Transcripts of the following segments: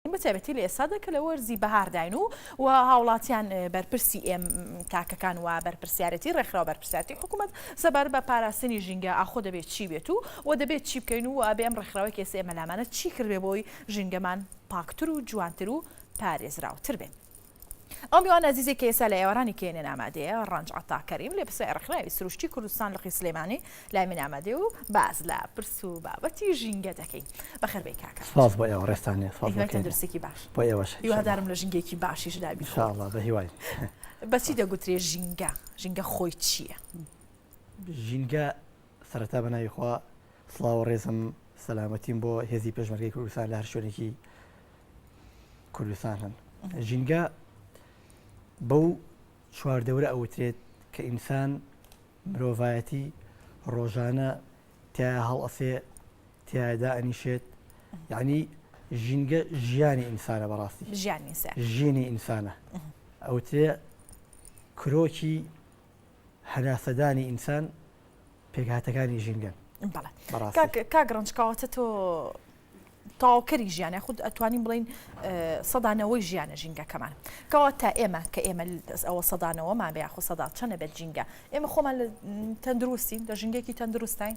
بە تایبەتی لە ئێستادا کە لە وەرزی بەهارداین و و هاوڵاتیان بەرپرسی ئێم تاکەکان و بەرپرسیارەتی ڕێکخراو بەرپرسیارەتی حکوومەت سەبار بە پاراستنی ژینگە ئاخۆ دەبێت چی بێت و و دەبێت چی بکەین و ئەبێ ئەم ڕێکخراوی کێسە ئێمە لامانە چی کردێ بۆی ژینگەمان پاکتر و جوانتر و پارێزراوتر بێت. ئەو میوان ئازیزەی کە ئێستا لە ئێوارانی کێنێن ئامادەیە ڕەنج عەتا کەریم لێ پرسای ڕێکخراوی سروشتی کوردستان لقی سلێمانی لای من ئامادەیە و باس لە پرس و بابەتی ژینگە دەکەین بەخێر بێی کاکە سپاس بۆ ئێوە ڕێزتان لێ سپاس هیوای بۆ کێرم تەندروستێکی باش بۆ ئێوەش ان هیوادارم لە ژینگەیەکی باشیش دا بی شاء الله بە هیوای بەچی دەگوترێ ژینگە ژینگە خۆی چییە؟ ژینگە سەرەتا بەناوی خوا سڵاو و ڕێزم سەلامەتیم بۆ هێزی پێشمەرگەی کوردستان لە هەر شوێنێکی کوردستان هەن ژینگە بەو چواردەورە ئەوترێت کە ئینسان مرۆڤایەتی ڕۆژانە تیا هەڵەسێ تیادا ئەنیشێت یعنی ژینگە ژیانی ئینسانە بەڕاستی ژیانی ئینسانە ئەوترێ کرۆکی هەناسەدانی ئینسان پێکهاتەکانی ژینگەن کاک ڕنج کەواتە تۆ تاوکەری ژیانە خود ئەتوانین بڵین سەدانەوەی ژیانە ژینگەکەمان کەوا تا ئێمە کە ئێمە دەست ئەوە سەدانەوەمان بە یاخۆ سەدا چەنە بێت ژینگە ئێمە خۆمان لە تەندروستین لە ژینگێکی تەندروستین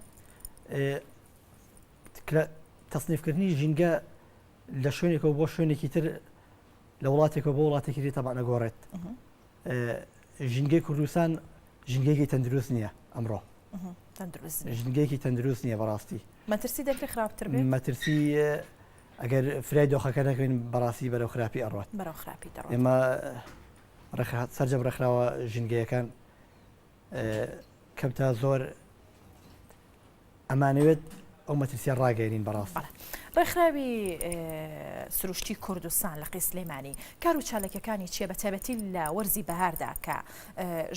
تەصنیفکردنی ژینگە لە شوێنێکەوە بۆ شوێنێکی تر لە وڵاتێکەوە بۆ وڵاتێکی تر تەبانەگۆڕێت ژینگەی کوردستان ژینگەیەکی تەندروست نییە ئەمڕۆ ژینگەیەکی تەندروست نییە بەڕاستی مەترسی دەکرێت خراپتر مەترسی ئەگەر فرای دۆخەکە نەکەین بەڕاستی بەرەو خراپی ئەڕات بەرەو خراپی ئێمە سەررجەم ڕێکخراوە ژینگەیەکان کەوتا زۆر ئەمانەوێت ئەو مەترسیە ڕاگەێنین بەڕاست ڕێکخراوی سروشتی کوردستان لە قی سلێمانی کار و چالەکەەکانی چیە بە تایبەتی لە وەرزی بەهاردا کە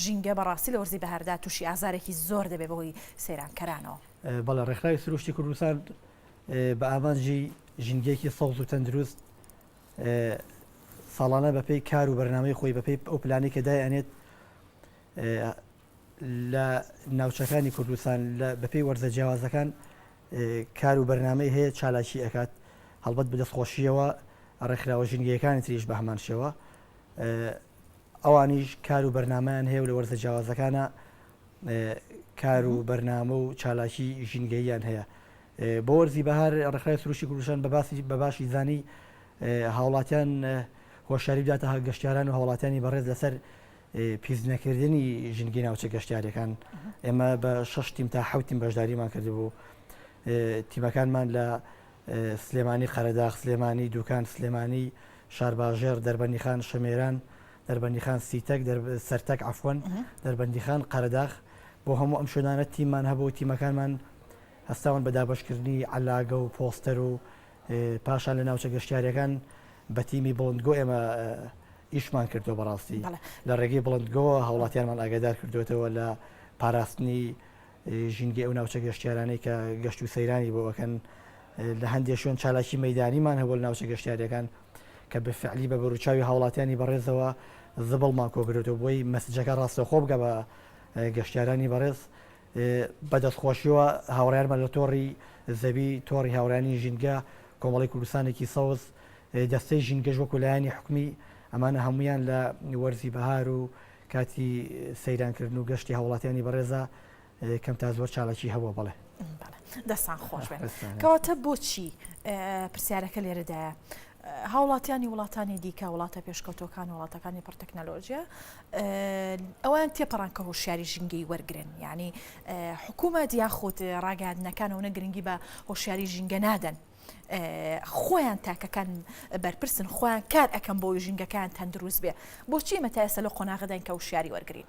ژینگە بەڕاستی لە وەرزی بەهاردا تووشی ئازارێکی زۆر دەبێ بەهۆی سەیرانکەرانەوە بەڵە ڕێکخراوی سروشتی کوردستان بە ئامانجی ژینگەیەکی سەوز و تەندروست ساڵانە بەپی کار و بەرنمەی خۆی بەپی ئەو پلانی کە دایانێت لە ناوچەکانی کوردستان بە پێی وەرزە جیاوازەکان کار و بەرنمەی هەیە چالاکی ئەکات هەڵبەت بدەست خۆشیەوە ڕێکخراوە ژینگەکانی تریش بە هەمان شێوە ئەوانیش کار و بەرنمەیان هەیە و لە وەرزە جیاوازەکانە کار و بەرنامە و چالاکی ژینگەییان هەیە بۆ وەرزی بەهار ڕێکخرای سروشی کوردستان بە باسی بە باشی زانی هاوڵاتیان هۆشاری بداتە هە گەشتاران و هاوڵاتیانی بەڕێز لەسەر پیس نەکردنی ژنگی ناوچە گەشتیارەکان ئێمە بە شش تیم تا حوتیم بەشداریمان کردبوو تیمەکانمان لە سلێمانی قەرەداخ سلێمانی دوکان سلێمانی شارباژێر دەربەنیخان شەمێران دەربەندیخان سیتەک سەرتەک ئەفۆن دەربەندیخان قەرداخ بۆ هەموو ئەم شوێنانە تیممان هەبوو تیمەکانمان هەستاون بە دابشکردنی علاگە و پۆستەر و پاشان لە ناوچە گەشتیاریەکان بە تیمی بڵندگۆ ئێمە ئیشمان کردو بەڕاستی لە ڕێگەی بڵندگۆ هاوڵاتیانمان ئاگادار کردوێتەوە لە پاراستنی ژینگە ئەو ناوچە گەشتیارانەی کە گەشت و سەیرانی بۆەکەن لە هەندێک شوێن چالاکی مەدانیمان هەبوو ناوچە گەشتیارەکان کە بفعلی بە بەروچاوی هاوڵاتیانی بەڕێزەوە زبڵمان کۆگرێتەوە بۆی مەسجەکە ڕاستەخۆ بگە بە گەشتیارانی بەڕێز بە دەستخۆشیەوە هاوڕێیانمان لە تۆڕی زەوی، تۆڕی هاوڕێیانی ژینگە، کۆمەڵەی کوردستانێکی سەوز، دەستەی ژینگەش وەکو لایەنی حکومی، ئەمانە هەموویان لە وەرزی بەهار و کاتی سەیرانکردن و گەشتی هاوڵاتیانی بەڕێزا کەم تا زۆر چالاکی هەبووە بەڵێ. دەستان خۆش بێت. کەواتە بۆچی پرسیارەکە لێرەدایە. هاوڵاتیانی وڵاتانی دیکە وڵاتە پێشکەوتوەکان وڵاتەکانی پڕ تەکنەلۆژیە ئەوان تێپەڕان کە هۆشیاری ژینگەی وەرگن ینی حکوومەت یاخود ڕاگەاندنەکانەوە نە گرنگی بە هۆشیاری ژینگە نادەن. خۆیان تاکەکان بەرپرسن خۆیان کار ئەەکەم بۆی ژینگەکان تەندروست بێ بۆچی مەتایسە لە قۆناغداین کە وشیاری وەرگین.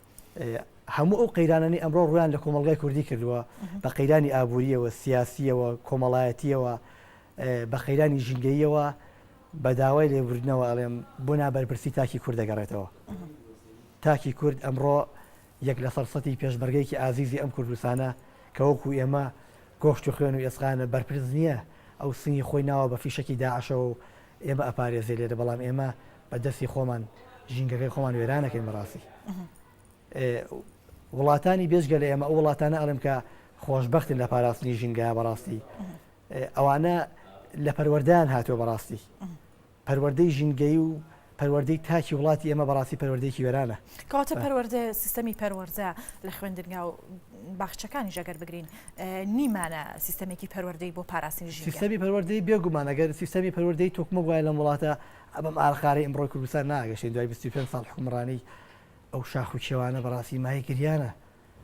هەموو ئەو قەیرانانی ئەمڕۆ ڕویان لە کۆمەلگای کوردی کردووە بە قەیرانی ئابوووریەوە سیاسیەوە کۆمەڵایەتیەوە بە قەیرانی ژینگەیەوە بە داوای لێبوردنەوە ئەڵێم بۆ نابەرپرسی تاکی کورد دەگەڕێتەوە تاکی کورد ئەمڕۆ یەک لە فەرسەتی پێشمەرگەیەکی ئازیزی ئەم کوردستانە کە وەکو ئێمە گۆشت و خوێن و ئێسقانە بەرپرس نییە ئەو سنگی خۆی ناوە بە فیشەکی داعشەوە و ئێمە ئەپارێزێ لێرە بەڵام ئێمە بە دەستی خۆمان ژینگەکەی خۆمان وێران نەکەین بەڕاستی وڵاتانی بێجگە لە ئێمە ئەو وڵاتانە ئەڵێم کە خۆشببختن لە پاراستنی ژینگە بەڕاستی ئەوانە لە پەروەەردان هاتووە بەڕاستی پەروەەردەی ژینگەی و پەروەەردەی تاکی وڵاتی ئێمە بەڕاستی پەروەەردەیەکی وێرانە کەواتە پەروەەردە سیستەمی پەروەەردە لە خوێندنگا و باخچەکانی ژەگەر بگرین نیمانە سیستەمێکی پەروەەردەی بۆ پاراستنی سیستەمی پەروەەردەی بێگومانەگەر سیستەمی پەروەەردەی تۆکمە وایە لەم وڵاتە ئەمە مارەخارەی ئمڕۆی کوردستان ناگەشێ دوای بیست و پێنج ساڵ حکومڕانی ئەو شاخ و کێوانە بەڕاستی مایەی گریانە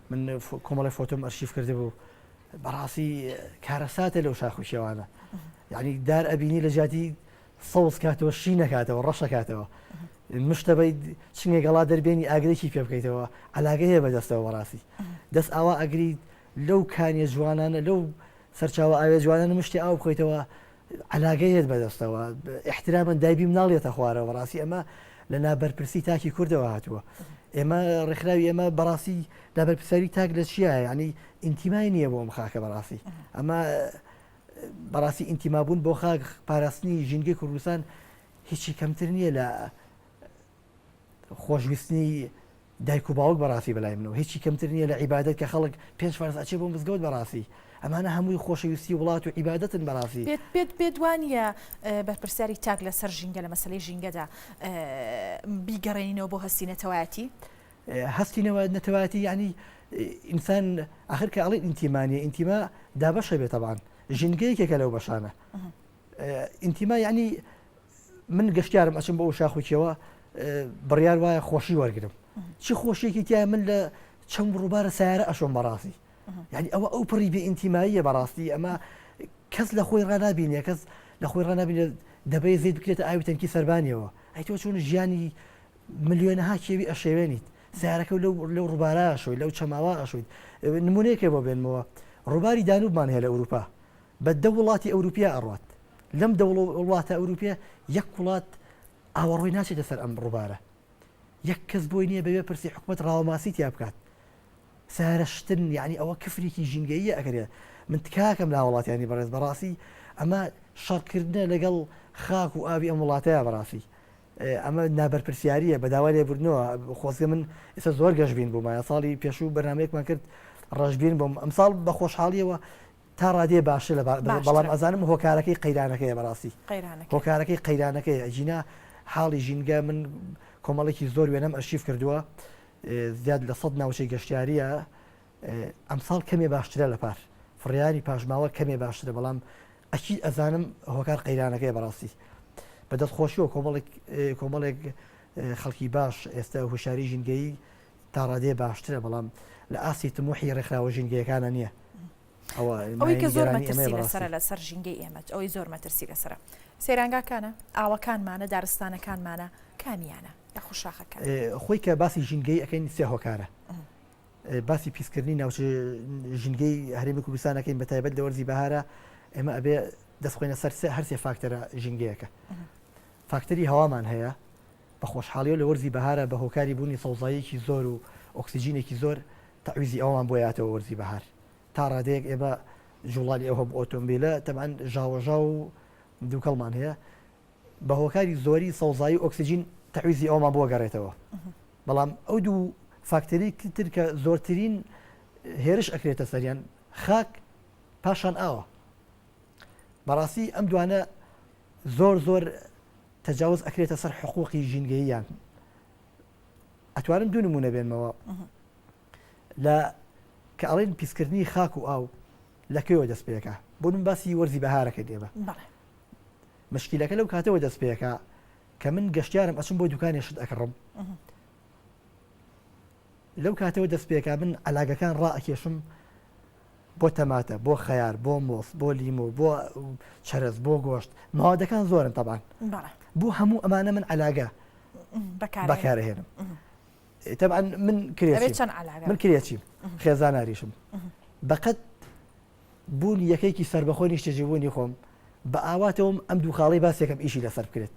من کۆمەڵی فۆتۆم ئەرشیف کرد بوو بەڕاستی کارەساتە لەو شاخ و کێوانە یعنی دار ئەبینی لە جاتی سەوز کاتەوە شی نەکاتەوە ڕەشەکاتەوە مشتەبەی چنگە گەڵا دەربێنی ئاگرێکی پێ بکەیتەوە علاگە هەیە بەدەستەوە بەڕاستی دەست ئاوا ئەگریت لەو کانیە جوانانە لەو سەرچاوە ئاوێ جوانانە مشتی ئاو بخۆیتەوە عەلاگەی هێت بەدەستەوە ئیحترامەن دایبی مناڵ یەتە خوارەوە بەڕاستی ئەمە لە لابەرپرسی تاکی کوردەوە هاتووە ئێمە ڕێکخراوی ئێمە بەڕاستی لابەرپساوی تاک لە چیە ینی ئینتیمای نییە بۆ ئەم خاکە بەڕاستی ئەمە بەڕاستی ئینتیمابوون بۆ خاک پاراستنی ژینگەی کوردستان هیچی کەمتر نییە لە خۆشویستنی دایک و باوک بەڕاستی بەلای منەوە هیچی کەمتر نییە لە عیبادەت کە خەڵک پێنج فەرز ئەچێ بۆ مزگەوت بەڕاستی ئەمانە هەمووی خۆشەویستی وڵات و عیبادەتن بەڕاستی پێت پێت پێت وا نییە بەرپرسیاری چاک لەسەر ژینگە لە مەسەلەی ژینگەدا بیگەڕێنینەوە بۆ هەستی نەتەوایەتی هەستی نەوە نەتەوایەتی ینی ئینسان ئاخر کە ئەڵی ئینتیمانیە ئینتیما دابەشە بێتەبان ژینگەیەکێکە لەو بەشانە ئینتیما یعنی من گەشتارم ئەچم بۆ شاخوکیەوە بڕیار وایە خۆشی وەرگرم چی خۆشیێکی تیا من لە چەند ڕووبارە سیارە ئەشۆم بەڕاستی یعنی ئەوە ئەو پڕی بێ ئینتیماییە بەڕاستی ئەمە کەس لە خۆی ڕنابینە کەس لە خۆی ڕنابینە دەبێ زیت بکرێت ئاوی تەنکی سەربانیەوە ئەی تۆ چون ژیانی ملیۆنەها کێوی ئەشێوێنیت سیارەکە لەو لەو ڕووبارە شوی لەو چەماوە ئەشویت نمونەیەکێ بۆ بێنمەوە ڕووباری دانوبمان هەیە لە ئەوروپا بە دە وڵاتی ئەوروپیا ئەڕوات لەم دە وڵاتە ئەوروپیە یەک وڵات ئاوەڕۆی ناچێتە سەر ئەم ڕوبارە یەک کەس بۆی نیە بەوێ پرسی حکومەت ڕاوەماسی تیا بکات سارە شتن یعنی ئەوە کفرێکی ژینگەیە ئەگەرێ من تکاکەم لا وڵاتیانی بەڕێز بەڕاستی ئەمە شەڕکردە لەگەڵ خاک و ئاوی ئەم وڵاتەیە بەڕاستی ئەمە نابەرپرسیاریە بەداوا لێ بردنەوە خۆزگە من ئێستا زۆر گەشببین بوومایە ساڵی پێشوو بەنامەیەکمان کرد ڕژبین بۆم ئەمساڵ بە خۆشحاڵیەوە تا ڕادەیە باشە لە باشترە بە بەڵام ئەزانم هۆکارەکەی قەیرانەکەیە بە ڕاستی قەیرانەکەی هۆکارەکەی قەیرانەکەیە ئەگینا حاڵی ژینگە من کۆمەڵێکی زۆر وێنەم ئەرشیف کردووە زیاد لە سەد ناوچەی گەشتیارییە ئەمساڵ کەمێ باشترە لە پار فڕیاری پاشماوە کەمێ باشترە بەڵام ئەکی ئەزانم هۆکار قەیرانەکەی بەڕاستی بەدەست خۆشیەوە کۆمەڵێک کۆمەڵێک خەڵکی باش ئێستا هوشاری ژینگەی تا ڕادەیە باشترە بەڵام لە ئاستی تموحی ڕێکخراوە ژینگەیەکانە نییە ئەوە ئەوەی کە زۆر مەترسی لەسەر لەسەر ژینگەی ئێمەت ئەوەی زۆر مەترسی لەسرە سێرانگاکانە ئاوەکانمانە دارستانەکانمانە کامیانە لە خوشاخەکە خۆی کە باسی ژینگەی ئەەکەین سێ هۆکارە باسی پیسکردنی ناوچ ژینگەی هەرێمی کوردستانەکەین بە تایبەت لە وەرزی بەهارە ئێمە ئەبێ دەستخۆینە سەر هەرسێ فاکتەرە ژینگەیەەکە فاکتەری هەوامان هەیە بە خۆشحاڵیەوە لە وەرزی بەهارا بە هۆکاری بوونی سەوزاییەکی زۆر و ئۆکسجینێکی زۆر تەعویزی ئەوەمان بۆ یاتەوە وەرزی بەهار تا ڕادەیەک ئێمە جوڵانی ئەو هەموو ئۆتۆمبیلە تەبعەن ژاوەژاو و دووکەڵمان هەیە بە هۆکاری زۆری سەوزایی و ئۆکسجین تەعویزی ئەومان بۆ گەڕێتەوە بەڵام ئەو دوو فاکتەری تر کە زۆرترین هێرش ئەکرێتە سەریان خاک پاشان ئاوە بەڕاستی ئەم دوانە زۆر زۆر تەجاوز ئەکرێتە سەر حقوقی ژینگەییان ئەتوانم دوو نمونە بێنمەوە لە کە ئەڵێن پیسکردنی خاک و ئاو لە کوێوە دەست پێەکە بۆ من باسی وەرزی بەهارەکە دێمە مشکیلەکە لەو کاتەوە دەست پێەکە کە من گەشتارم ئەچم بۆ دوکانی شت ئەکڕم لەو کاتەوە دەست پێکا من عەلاگەکان ڕائەکێشم بۆ تەماتە بۆ خەیار بۆ مۆس بۆ لیمۆ بۆ چەرەز بۆ گۆشت ماوادەکان زۆرن تەبان بۆ هەموو ئەمانە من عەلاگە بەکارهێنم تەبان من کرێ من کرێچیم خێزاناریشم بەقەت بوون یەکەیکی سەربەخۆی نیشتەجێبوونی خۆم بە ئاواتەوەم ئەم دوو خاڵەی باسێکم ئیشی لەسەر بکرێت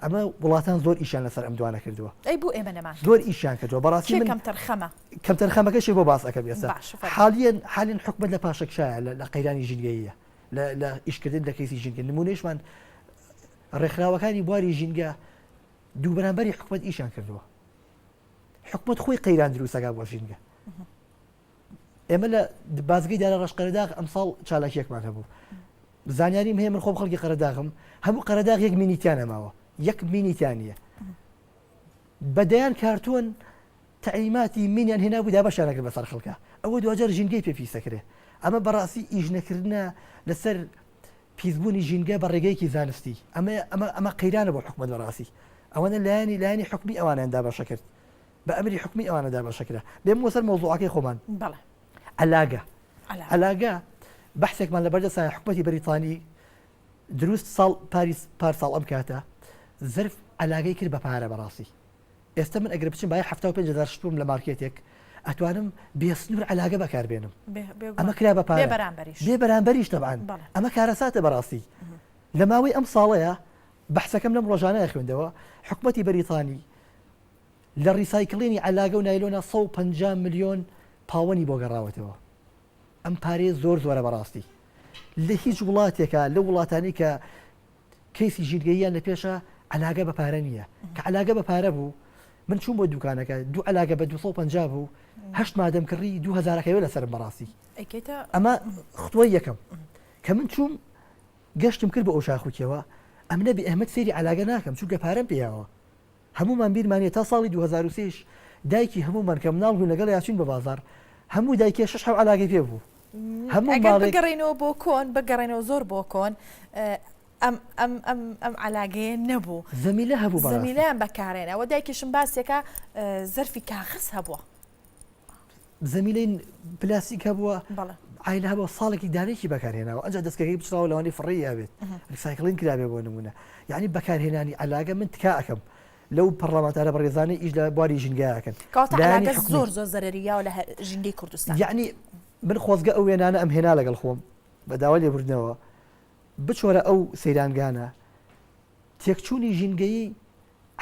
ئەمە وڵاتان زۆر ئیشان لەسەر ئەم دوانە کردووە ئەی بۆ ئێمە نەمان زۆر ئیشان کردووە بەڕاستی من کەمتەرخەمە کەمتەرخەمەکەشی بۆ باس ئەەکەم ێستا حالیان حالین حکومت لە پاشەکشایە لە قەیرانی ژینگەیە لە ئیشکردن لە کەیسی ژینگە نمونێشمان ڕێکخراوەکانی بواری ژینگە دوو بەرامبەری حکومت ئیشان کردووە حکومت خۆی قەیران دروستەکە بۆ ژینگە ئێمە لە بازگەی دارە ڕەش قەرەداغ ئەمساڵ چالاکیەکمان هەبوو زانیاریم هەیە من خۆم خەڵکی قەرەداغم هەموو قەرەداغ یەک مینیتیان نەماوە یەک مینیتانە بەدەیان کارتۆن تعلیماتی مینیان هێنا بوودا بەشارەکە بەسەر خەڵکە ئەوە دوجار ژینگەی پێ پیسەکرێ ئەمە بەڕاستی ئیش نەکردە لەسەر پیسبوونی ژینگە بە ڕێگەیەکی زانستی ئەمە ئەمە ئەمە قەیرانە بۆ حکومت بەڕاستی ئەوەنە لایەنی لایەنی حکومی ئەوانیاندا بەشە کرد بە ئەمری حکومی ئەوانە دابەشە کرا بێم وەسەر مەوزوعەکەی خۆمان بەڵێ ئەلاگە ئەلاگە بەحسێکمان لە بەردەسایە حکوومەتی بەریتانی دروست ساڵ پاریس پار ساڵ ئەم کاتە زرف ئەلاگەی کرد بە پارە بەڕاستی ئێستا من ئەگەر بچم باە 5 شتوم لە مارکێتێک ئەتوانم بێسنوور علاگە بەکاربێنم ئەمە کرا بە پارێ بەرامبەریش تەبان ئەمە کارەساتە بەڕاستی لە ماوەی ئەم ساڵەیە بەحسەکەم لەم ڕۆژانەیە خوێندەوە حکوومەتی بەریتانی لە ڕیسایکلینی عەلاگە و نایلۆنا سەد و پەنجا ملیۆن پاوەنی بۆ گەڕاوەتەوە ئەم پارەیە زۆر زۆرە بەڕاستی لە هیچ وڵاتێکە لە وڵاتانی کە کەیسی ژینگەییان لە پێشە عەلاگە بە پارە نییە کە عەلاگە بە پارە بوو من چوون بۆ دوکانەکە دوو علاگە بە 250 بوو هەشت مادەم کڕی 2000ەکەوێ لەسەر بەڕاستی ئەمە خۆی یەکەم کە من چووم گەشتم کرد بە ئەو شاخوکیەوە ئەم نەبی ئەحمد سێری علاگە ناکەم چونکە پارەم پێیاوە هەموومان بیرمان نیە تا ساڵی دوو هەزار و سێ ش دایکی هەموومان کە مناڵ بووین لەگەڵیا ئەچووین بە بازاڕ هەموو دایکێ شەش حەو عەلاگەی پێ بوو هەموو ماڵێک. ئەگەر بگەڕێینەوە بۆ کۆن بگەڕێنەوە زۆر بۆ کۆن ئەم ئەم ئەم ئەم عەلاگەیە نەبوو زەمیلە هەبوو بەڕاستی زەمیلەیان بەکارێنەوە دایکیشم باسیەکا زەرفی کاغەز هەبووە زەمینەی پلاستیک هەبووە ئایل هەبوو ساڵێکی دانێکی بەکارهێناوە ئەجا دەستکەکەی بچراوە لەوانی فڕی یاێت ریسایکلین کرابێ بۆ نمونە یعنی بەکارهێنانی علاگە من تکاکەم لەو پەرلەمانتارە بەڕێزانانی ئیش لە بواری ژینگایەکەن زۆر زۆر زەرریاوە لە ژینگەی کوردستان یعنی من خۆزگە ئەو وێنانە ئەم هێنا لەگەڵ خۆم بەداوا لێبوردنەوە بچۆرە ئەو سەیرانگانە تێکچوونی ژینگەیی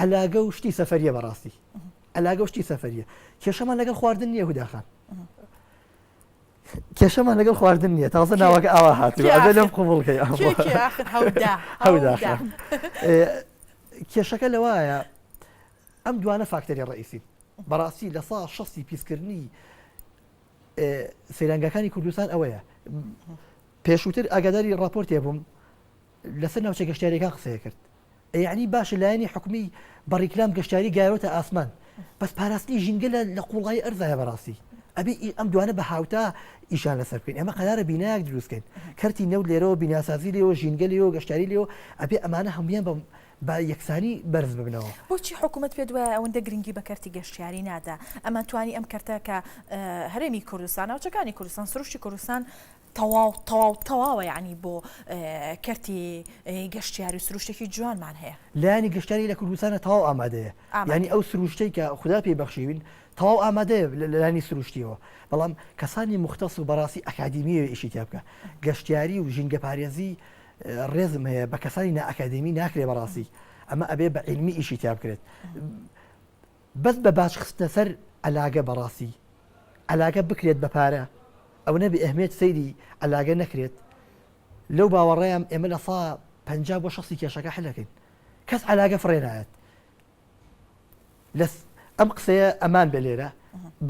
عەلاگە و شتی سەفەریە بەڕاستی عەلاگە و شتی سەفەریە کێشەمان لەگەڵ خواردن نییە هوداخان کێشەمان لەگەڵ خواردن نییە تازە ناوەکە ئاوا هاتوو ئەگە لەم قوبڵکەی کێشەکە لەوایە ئەم دوانە فاکتەری ڕئیسی بەڕاستی لە سا شەستی پیسکردنی سەیرانگەکانی کوردستان ئەوەیە پێشووتر ئاگاداری راپۆرتێ بووم لەسەر ناوچە گەشتیاریەکان قسەی کرد یەعنی باشە لایەنی حکومی بە ڕیکلام گەشتیاری گایرۆتە ئاسمان بەس پاراستنی ژینگە لە قوڵایی ئەرزایە بەڕاستی ئەبی ئەم دوانە بە هاوتا ئیشان لەسەر بکەین ئەمە قەرارە بینایەک دروستکەین کەرتی نەوت لێرەوە بیناسازی لێەوە ژینگە لێەوە گەشتاری لێەوە ئەبێ ئەمانە هەمویان بە با یەکسانی بەرز ببنەوە بۆچی حکوومەت پێ دوایە ئەوەندە گرنگی بە کەرتی گەشتیاری نادا ئەمە توانی ئەم کەرتە کە هەرێمی کوردستان ناوچەکانی کوردستان سروشتی کوردستان تەواو تەواو تەواوە یەعنی بۆ کەرتی گەشتیاری و سروشتێکی جوانمان هەیە. لایەنی گەشتیاری لە کوردستانە تەواو ئامادەیە یەعنی ئەو سروشتەی کە خودا پێی بەخشیوین تەواو ئامادەیە لە لایەنی سروشتیەوە بەڵام کەسانی موختەس و بەڕاستی ئەکادیمی ئەوێ ئیشی تیا بکا گەشتیاری و ژینگە پارێزی ڕێزم هەیە بە کەسانی نا ئەکادیمی ناکرێ بەڕاستی ئەمە ئەبێ بە عیلمی ئیشی تیا بکرێت بەس بە باج خستنە سەر عەلاگە بەڕاستی عەلاگە بکرێت بە پارە ئەونە بێ ئەهمیەت سەیری عەلاگە نەکرێت لەو باوەڕەیام ئێمە لە سا پەنجا بۆ شەسی کێشەکە حلەکەین کەس عەلاگە فڕێ نایەت لەس ئەم قسەیە ئەمان بە لێرە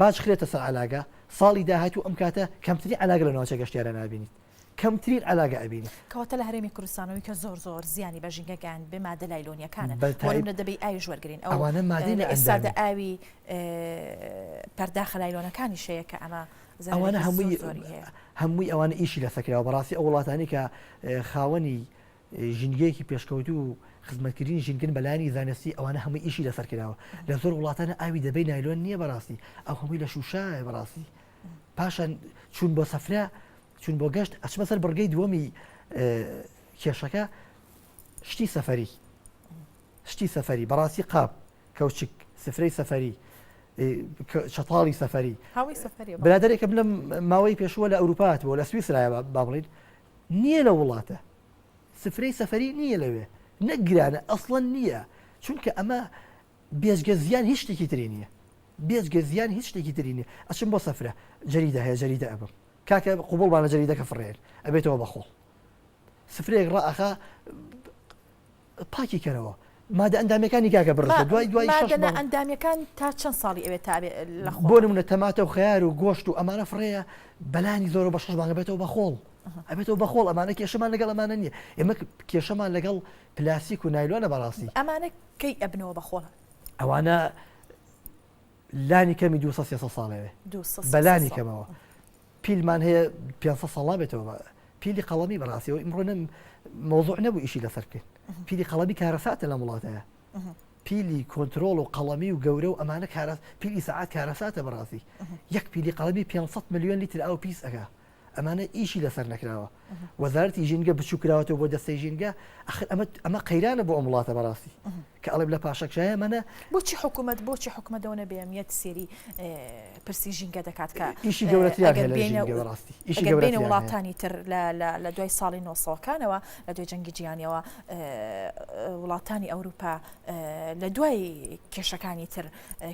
باج خرێتە سەر عەلاگە ساڵی داهاتوو ئەم کاتە کەمتری عەلاگە لە ناوچە گەشتیارە نابینیت کەمترین عەلاگە ئەبینیت. کەواتە لە هەرێمی کوردستانەوەی کە زۆر زۆر زیانی بە ژینگە گەیاند بێ مادە لایلۆنیەکانن بە تایب بۆنمونە دەبێی ئاویش وەرگرین ئەو ئەوانە مادەی لە ئێستا دە ئەندامی ئاوی پەرداخە لایلۆنەکانی شەیە کە ئەمە ئەوانە زەرەێکی زۆر هەمووی زۆری هەیە. هەمووی ئەوانە ئیشی لەسە کراوە بەڕاستی ئەو وڵاتانی کە خاوەنی ژینگەیەکی پێشکەوتوو و خزمەتکردنی ژینگەن بەلایانی زانستی ئەوانە هەمووی ئیشی لەسەر کراوە لە زۆر وڵاتانە ئاوی دەبەی نایلۆن نییە بەڕاستی ئەو هەمووی لە شوشە بەڕاستی پاشان چوون بۆ سەفرە چون بۆ گەشت ئەچمە سەر بڕگەی دووەمی کێشەکە شتی سەفەری شتی سەفەری بەڕاستی قاپ کەوچک سفرەی سەفەری شەتاڵی سەفەری برادێکم لەم ماوەی پێشوە لە ئەوروپات بۆ لە سویسرایە با بڵین نییە لە وڵاتە سفرەی سەفەری نییە لەوێ نەگرانە ئەسڵەن نییە چونکە ئەمە بێجگە زیان هیچ شتێکی تری نیە بێجگە زیان هیچ شتێکی تری نیە ئەچم بۆ سەفرە جەریدە هەیە جەریدە ئەبم کاکە قوبڵمانە جەریدەکە فڕێن ئەبێتەوە بە خۆڵ سفرەیەک ڕائەخا پاکی کەرەوە مادە ئەندامەکانی کاکە بڕە دوای دوای ئەندامەکان تا چەند ساڵی ئەوێت تا بۆ منە تەماتە و خیار و گۆشت و ئەمانە فڕەیە بەلانی زۆرە بە شەش مانگە بێتەوە بە خۆڵ ئەبێتەوە بە خۆڵ ئەمانە کێشەمان لەگەڵ ئەمانە نیە ئێمە کێشەمان لەگەڵ پلاستیک و نایلۆنە بەڕاستی. ئەمانە کەی ئەبنەوە بە خۆڵ؟ ئەوانە لانی کەمی دو سەد سێ سەد ساڵێ بێ. دوو سەد سێ سەد ساڵ. بەلانی کەمەوە. پیلمان هەیە پێنج سەد ساڵ نابێتەوە بە پیلی قەڵەمی بەڕاستیەوە ئیمڕۆ نەم مەوزوع نەبوو ئیشی لەسەر بکەین. پیلی قەڵەمی کارەساتە لەم وڵاتەیە. پیلی کۆنترۆڵ و قەڵەمی و گەورە و ئەمانە کارە پیلی سەعات کارەساتە بەڕاستی. یەک پیلی قەڵەمی پێنج سەد ملیۆن لیتر ئاو پیس ئەکا. ئەمانە ئیشی لەسەر نەکراوە وەزارتی ژینگە بچووکراوەەوە بۆ دەستەی ژینگە ئەخر ئەمە ئەمە قەیرانە بۆ ئەم وڵاتە بەڕاستی کە ئەڵێم لە پاشەکشایە منە بۆچی حکوومەت بۆچی حکومەتەوە نەبێمیت سێری پرسی ژینگە دەکات کە ئیشی گەورەتیڕاستی ئیشی گەورەێنە وڵاتانی تر لە دوای ساڵی نۆسەکانەوە لە دوای جەنگی جیانیەوە وڵاتانی ئەوروپا لە دوای کێشەکانی تر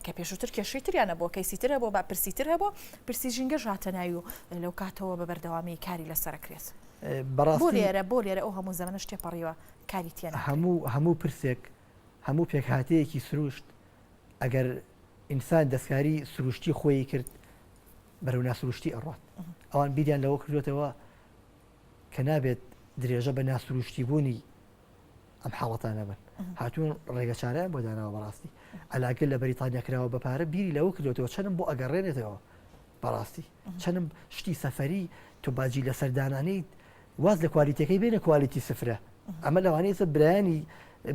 کە پێشووتر کێشەی تریان هەبووە، کەیسی تر هەبووە، بەرپرسی تر هەبووە، پرسی ژینگەش هاتە ناوی و لەوکاتەوە بە بەردەوامی کاری لەسەر ئەکرێت. بەڕاستی بۆ لێرە بۆ لێرە ئەو هەموو زەمەنەش تێپەڕیوە کاری تێ ناکرێت. هەموو هەموو پرسێک، هەموو پێکهاتەیەکی سرووشت ئەگەر ئینسان دەستکاری سرووشتی خۆی کرد بەرەو ناسرووشتی ئەڕوات. ئەوان بیریان لەوە کردوێتەوە کە نابێت درێژە بە ناسرووشتیبوونی ئەم حاڵەتانە بن هاتوون ڕێگە چارەیان بۆ داناوە بەڕاستی ئەلاکە لە بەریتانیا کراوە بە پارە بیری لەوە کردوێتەوە چەنم بۆ ئەگەڕێنێتەوە بەڕاستی چەنم شتی سەفەری تو باجی لە سەردانانی واز لە کوالیتەکەی بێنە کوالیتی سفرە ئەمە لەوانەیەسە برایانی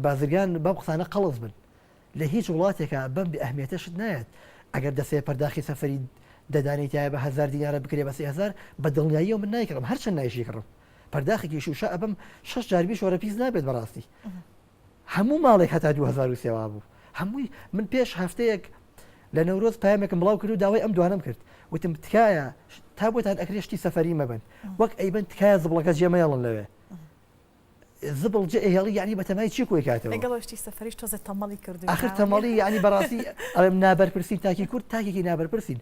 بازرگان بەم قسانە قەڵز بن لە هیچ وڵاتێکە بەم بە ئەهمیێتە شت نایەت ئەگەر دەسێ پەرداخی سەفری دەدانێتایە بە هزار دینارە بکرێ بە سهزار بە دڵنیایی من نایکڕم هەرچەند نایشیکڕم پەرداخێکی شوشە ئەبەم شەش جار بی شۆرە پیس نابێت بەڕاستی هەموو ماڵێک هەتا 2023 وا بوو هەمووی من پێش هەفتەیەک لە نەورۆز پامێکم بڵاو کرد و داوای ئەم دوانم کرد وتم تکایە تا بۆتان ئەکرێشتی سەفەری مەبن وەک ئەیبن تکایە زبڵەکە جێمەیاڵن لەوێ زبڵ جێ هێڵی یعنی بەتەمای چی کۆی کاتەوە گەڵشتی سەفریش تۆزە تەمەڵی کرد آخر تەمەڵی یعنی بەڕاستی ئەم نابەرپرسین تاکی کورد تاکێکی نابەرپرسین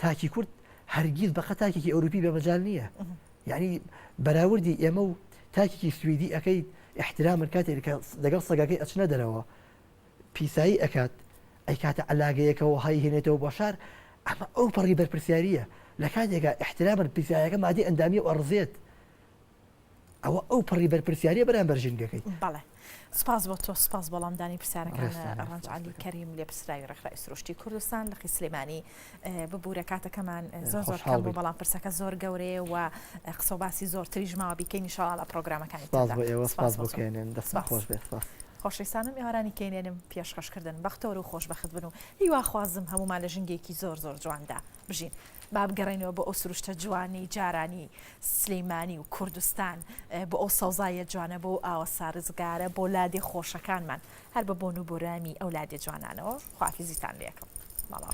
تاکی کورد هەرگیز بەقە تاکێکی ئەوروپی بەمەجال نییە یانی بەراوردی ئێمە و تاکێکی سویدی ئەکەیت ئیحترامن کاتێک کە لەگەڵ سەگەکەی ئەچنە دەرەوە پیسایی ئەکات ئەیکاتە عەلاگەیەکەوە هەی هێنێتەوە بۆ شار ئەمە ئەو پەڕی بەرپرسیاریە لە کاتێکا ئیحترامن پیسایەکە مادی ئەندامی و ئەڕزێت ئەوە ئەو پەڕی بەرپرسیاریە بەرامبەر ژینگەکەی بەڵێ سپاس بۆ تۆ سپاس بەڵام دانی پرسیارەکان ڕەنج علی کەریم لێ پرسراوی ڕێکخراوی سروشتی کوردستان لە قیسلێمانی ببوورە کاتەکەمان زۆر زۆر حاڵ بۆ بەڵام پرسەکە زۆر گەورەیە و قسە باسی زۆر تریش ماوە بیکەین شاڵ لە پرۆگرامەکانی سپاس بۆ ئێوە سپاس بۆکەێنن دەست خۆش بێ سپاس خۆشەویستانم ئێوارانی کەێنم پێشخەشکردن بەختەوە و خۆشببخت بن و هیواخوازم هەمومان لە ژنگێکی زۆر زۆر جواندا بژین با بگەڕێینەوە بۆ ئەو سروشتە جوانەی جارانی سلیمانی و کوردستان بۆ ئەو سەوزایە جوانە بۆ ئاوە سارزگارە بۆ لادێ خۆشەکانمان هەر بە بۆن و بۆرامی ئەو لادێ جوانانەوە خوافیزیتان لەکەم ماڵاو.